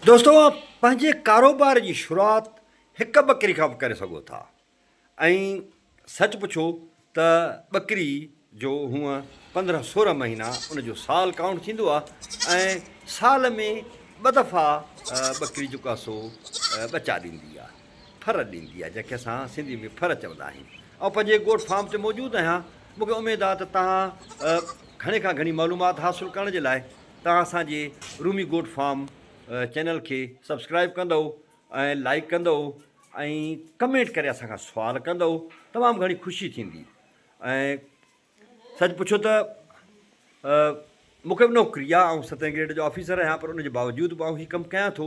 دوستو اوهان پنهنجي ڪاروبار جي شروعات هڪ ٻڪري کان به ڪري سگهو ٿا ۽ سچ پڇو ته ٻڪري جو هونء پندرهن سورهن مهينا ان جو سال ڪائونٽ ٿيندو آهي ۽ سال ۾ ٻه دفعا ٻڪري جيڪو آهي سو ٻچا ڏيندي آهي ڦر ڏيندي آهي جنهن کي اسان سنڌي ۾ ڦر چوندا آهيون آئون پنهنجي گوٽ فارم تي موجود آهيان مون کي اميد آهي ته توهان گهڻي کان گهڻي معلومات حاصل ڪرڻ جي لاء توهان اسان جي رومي گوٽ فارم چينل کي سبسڪرائب ڪندؤ ۽ لائيڪ ڪندؤ ۽ ڪمينٽ ڪري اسان کان سوال ڪندؤ تمام گهڻي خوشي ٿيندي ۽ سچ پڇو ته مون کي به نوڪري آهي آئون ستين گريڊ جو آفيسر آهيان پر ان جي باوجود به آئون هي ڪم ڪيان ٿو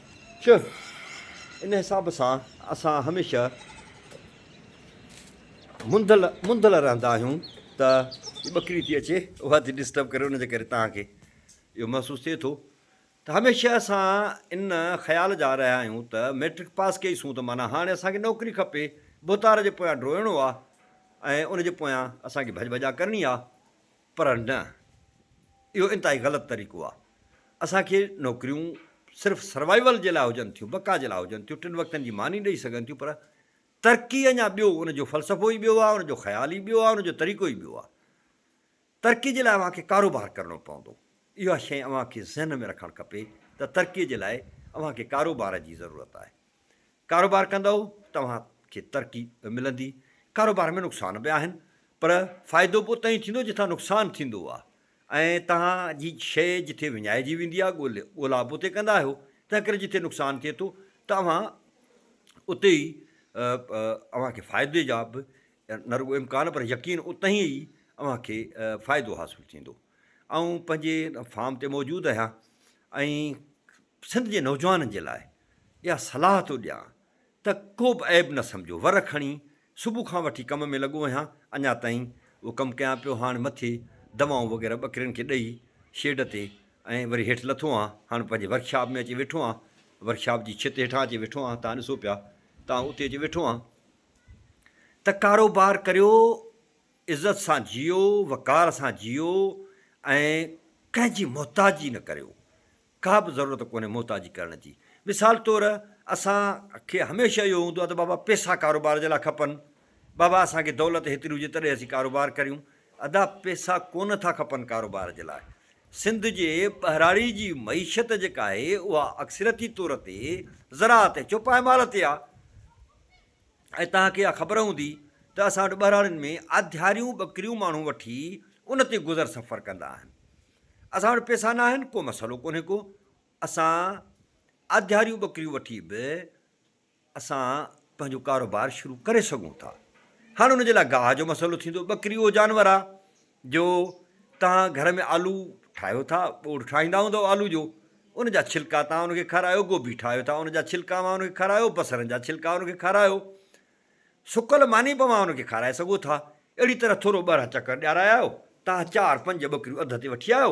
چه ان حساب سان اسان هميشه منڌل منڌل رهندا آهيون ته ٻڪري ٿي اچي اها ٿي ڊسٽرب ڪري ان جي ڪري توهان کي اهو محسوس ٿئي ٿو ته هميشه اسان ان خيال جا رهيا آهيون ته ميٽرڪ پاس ڪئي سون ته معنيٰ هاڻي اسانکي نوڪري کپي ڀوتار جي پويان ڊوئڻو آهي ۽ ان جي پويان اسانکي ڀڄ ڀڄا ڪرڻي آهي پر نه، اهو انتهائي غلط طريقو آهي. اسان کي نوڪريون صرف سروائيول جي لاء هجن ٿيون، بقا جي لاء هجن ٿيون، ٽن وقتن جي ماني ڏئي سگهن ٿيون پر ترقي اڃا ٻيو، ان جو فلسفو ئي ٻيو آهي، ان جو خيال ئي ٻيو آهي، ان جو طريقو ئي ٻيو آهي. ترقي جي لاء اوهان کي ڪاروبار ڪرڻو پوندو. اها شيء اوهان کي ذهن ۾ رکڻ کپي ته ترقي جي لاء اوهان کي ڪاروبار جي ضرورت آهي. ڪاروبار ڪندؤ توهان کي ترقي به ملندي، ڪاروبار ۾ نقصان به آهن پر فائدو به اتان ئي ٿيندو جتان نقصان ٿيندو آهي ۽ توهان جي شيء جتي وڃائجي ويندي آهي ڳولا به اتي ڪندا آهيو تنهن ڪري جتي نقصان ٿئي ٿو ته اوهان اتي ئي اوهان کي فائدي جا به نه رڳو امڪان پر يقين اتان ئي اوهان کي فائدو حاصل ٿيندو آئون پنهنجي فارم تي موجود آهيان ۽ سنڌ جي نوجوانن جي لاء اها صلاح ٿو ڏيان ته ڪوبه عيب نه سمجهو، ور کڻي صبح کان وٺي ڪم ۾ لڳو آهيان، اڃا تائين اهو ڪم ڪيان پيو، هاڻ مٿي دوائون وغيره ٻڪرين کي ڏئي شيڊ تي ۽ وري هيٺ لٿو آهيان، هاڻ پنهنجي ورڪشاپ ۾ اچي ويٺو آهيان، ورڪشاپ جي ڇت هيٺان اچي ويٺو آهيان، تان ڏسو پيا تان اتي اچي ويٺو آهيان. ته ڪاروبار ڪريو، عزت سان جيئو، وقار سان جيئو ۽ ڪنهن جي محتاجي نه ڪريو، ڪا به ضرورت ڪونهي محتاجي ڪرڻ جي. مثال طور اسان کي هميشه اهو هوندو آهي ته بابا پيسا ڪاروبار جي لاء کپن، بابا اسان کي دولت هيتري هجي تڏهن اسين ڪاروبار ڪريون. ادا پيسا ڪونه ٿا کپن ڪاروبار جي لاء. سنڌ جي ٻهراڙي جي معيشت جيڪا آهي اها اڪثريتي طور تي زراعت ۽ چوپائمال تي آهي ۽ توهان کي اها خبر هوندي ته اسان وٽ ٻهراڙين ۾ آڌياريون ٻڪريون ماڻهو وٺي ان تي گذر سفر ڪندا آهن. اسان وٽ پيسا ناهن، ڪو مسئلو ڪونهي ڪو، اسان آڌياريون ٻڪريون وٺي به اسان پنهنجو ڪاروبار شروع ڪري سگهون ٿا. هاڻ ان جي لاء گاهه جو مسئلو ٿيندو، ٻڪري اهو جانور آ جو توهان گهر ۾ آلو ٺاهيو ٿا، ٻوڙ ٺاهيندا هوندؤ آلو جو، ان جا ڇلڪا توهان ان کي کارايو، گوبي ٺاهيو ٿا ان جا ڇلڪا اوهان ان کي کارايو، بصرن جا ڇلڪا ان کي کارايو، سڪل ماني پوان ان کي کارائي سگهو ٿا، اهڙي طرح ٿورو ٻرهه چڪر ڏيارائي آيو، تان چار پنج ٻڪريون اڌ تي وٺي آيو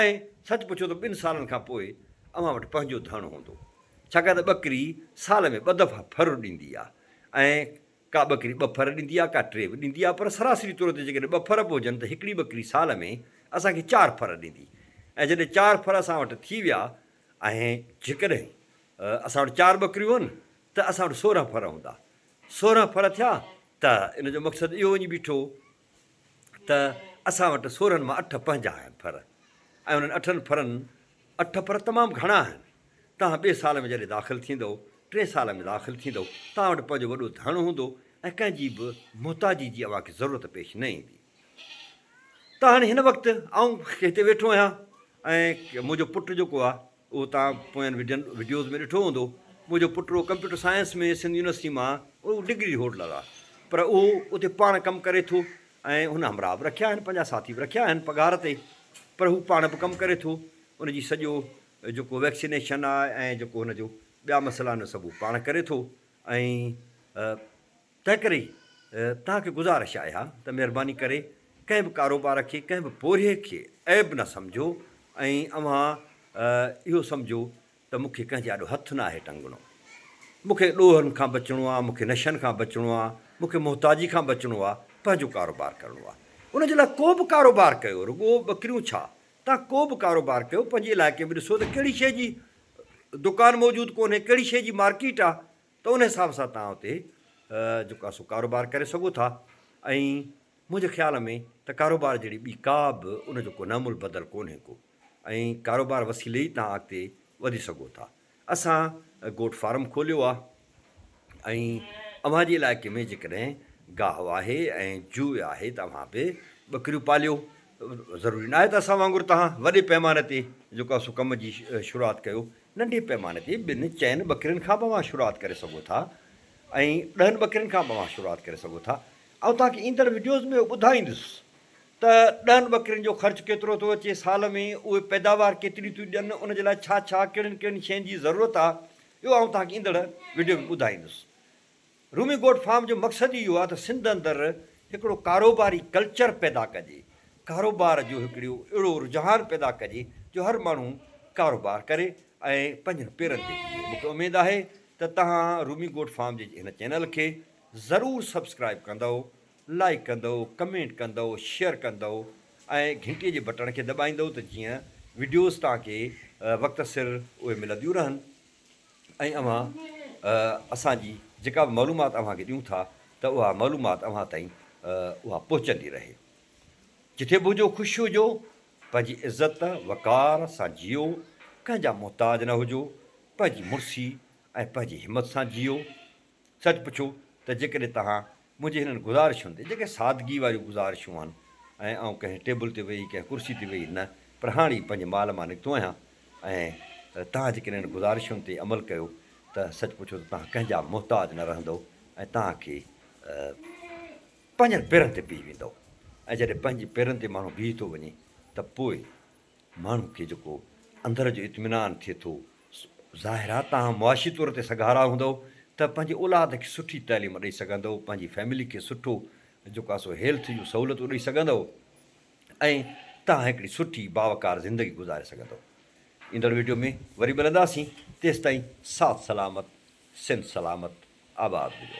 ۽ سچ پڇو ته ٻن سالن کان پوء اوهان وٽ پنهنجو ڌڻ هوندو، ڇاڪاڻ ته ٻڪري سال ۾ ٻه دفعا ڦر ڏيندي آ ۽ ڪا ٻڪري ٻه ڦر ڏيندي آ ڪا ٽي به ڏيندي آ پر سراسري طور تي جيڪڏهن ٻه ڦر به هجن ته هڪڙي ٻڪري سال ۾ اسان کي چار ڦر ڏيندي ۽ جڏهن چار ڦر اسان وٽ ٿي ويا ۽ جيڪڏهن اسان وٽ چار ٻڪريون هن ته اسان وٽ سورهن ڦر هوندا. سورهن ڦر ٿيا ته ان جو مقصد اهو وڃي بيٺو ته اسان وٽ سورهن مان اٺ پنهنجا آهن ڦر ۽ انهن اٺن ڦرن اٺ ڦر تمام گهڻا آهن. توهان ٻئي سال ۾ جڏهن داخل ٿيندؤ، ٽئين سال ۾ داخل ٿيندؤ، توهان وٽ پنهنجو وڏو ڌڻ هوندو ۽ ڪنهن جي به محتاجي جي اوهان کي ضرورت پيش نه ايندي. ته هاڻي هن وقت آئون هتي ويٺو آهيان ۽ منهنجو پٽ جيڪو آهي، اهو توهان پوين وڊين وڊيوز ۾ ڏٺو هوندو منهنجو پٽڙو ڪمپيوٽر سائنس ۾ سنڌ يونيورسٽي مان اهو ڊگري هولڊر آ پر اهو اتي پاڻ ڪم ڪري ٿو ۽ هن همراهه به رکيا آهن پنهنجا ساٿي به رکيا آهن پگهار تي پر هو پاڻ به ڪم ڪري ٿو ان جي سڄو جيڪو ويڪسينيشن آ ۽ جيڪو هن جو ٻيا مسئلا آهن سڀ هو پاڻ ڪري ٿو ۽ تنهنڪري توهان کي گذارش آهي ها ته مهرباني ڪري ڪنهن به ڪاروبار کي، ڪنهن به پورهيي کي عيب نه سمجهو ۽ اوهان اهو سمجهو ته مون کي ڪنهن جي آڏو هٿ نه آهي ٽنگڻو. مون کي ڏوهن کان بچڻو آهي، مون کي نشن کان بچڻو آهي، مون کي محتاجي کان بچڻو آهي، پنهنجو ڪاروبار ڪرڻو آهي. ان جي لاء ڪو به ڪاروبار ڪيو، رڳو ٻڪريون ڇا، توهان ڪو به ڪاروبار ڪيو، پنهنجي علائقي ۾ ڏسو ته ڪهڙي شيء جي دڪان موجود ڪونهي، ڪهڙي شيء جي مارڪيٽ آهي، ته ان حساب سان توهان اتي جيڪو آهي سو ڪاروبار ڪري سگهو ٿا ۽ منهنجي خيال ۾ ته ڪاروبار جهڙي ٻي ڪا به ان جو ڪو نعمل بدل ڪونهي ڪو ۽ ڪاروبار وسيلي ئي توهان اڳتي وڌي سگهو ٿا اسان گوٽ فارم کوليو آهي ۽ اوهان جي علائقي ۾ جيڪڏهن گاهه آهي ۽ جوء آهي ته اوهان به ٻڪريون پاليو ضروري ناهي ته اسان وانگر توهان وڏي پيماني تي جيڪو آهي سو ڪم جي شروعات ڪيو، ننڍي پيماني تي ٻن چئن ٻڪرين کان به اوهان شروعات ڪري سگهو ٿا ۽ ڏهن ٻڪرين کان به اوهان شروعات ڪري سگهو ٿا. آئون توهان کي ايندڙ وڊيوز ۾ اهو ٻڌائيندس ته ڏهن ٻڪرين جو خرچ ڪيترو ٿو اچي سال ۾ اهي پيداوار ڪيتري ٿيون ڏين ان جي لاء ڇا ڇا ڪهڙين ڪهڙين شين جي ضرورت آهي اهو آئون توهان کي ايندڙ وڊيو ۾ ٻڌائيندس رومي گوٽ فارم جو مقصد ئي اهو آهي ته سنڌ اندر هڪڙو ڪاروباري ڪلچر پيدا ڪجي، ڪاروبار جو هڪڙو اهڙو رجحان پيدا ڪجي جو هر ماڻهو ڪاروبار ڪري ۽ پنهنجن پيرن تي بيهي، مون کي اميد آهي ته توهان رومي گوٽ فارم جي هن چينل کي ضرور سبسڪرائيب ڪندؤ، لائيڪ ڪندؤ، ڪمينٽ ڪندؤ، شيئر ڪندؤ ۽ گهنٽي جي بٽڻ کي دٻائيندؤ ته جيئن وڊيوز توهان کي وقت سر اهي ملنديون رهن. ۽ اوهان اسان جي جيڪا به معلومات اوهان کي ڏيون ٿا ته اها معلومات اوهان تائين اها پهچندي رهي. جتي به هجو خوش هجو، پنهنجي عزت وقار سان جيئو، ڪنهن جا محتاج نه هجو، پنهنجي مڙسي ۽ پنهنجي همت سان جيئو، سچ پڇو ته جيڪڏهن توهان منهنجي هنن گذارشن تي، جيڪي سادگي واريون گذارشون آهن ۽ آئون ڪنهن ٽيبل تي ويهي، ڪنهن ڪرسي تي ويهي نه پر هاڻي پنهنجي مال مان نڪتو آهيان ۽ توهان جيڪڏهن هنن گذارشن تي عمل ڪيو ته سچ پڇو ته توهان ڪنهن جا محتاج نه رهندؤ ۽ توهان کي پنهنجن پيرن تي بيهي ويندؤ ۽ جڏهن پنهنجي پيرن تي ماڻهو بيهي ٿو وڃي ته پوء ماڻهو کي جيڪو اندر جو اطمينان ٿئي ٿو ظاهرا توهان معاشي طور تي سگهارا هوندؤ ته پنهنجي اولاد کي سٺي تعليم ڏئي سگهندؤ، پنهنجي فيملي کي سٺو جيڪو آهي سو هيلٿ جون سهولتون ڏئي سگهندؤ ۽ توهان هڪڙي سٺي باوقار زندگي گذاري سگهندؤ. ايندڙ ويڊيو ۾ وري ملنداسين تيستائين ساٿ سلامت سنڌ سلامت آباد هجو.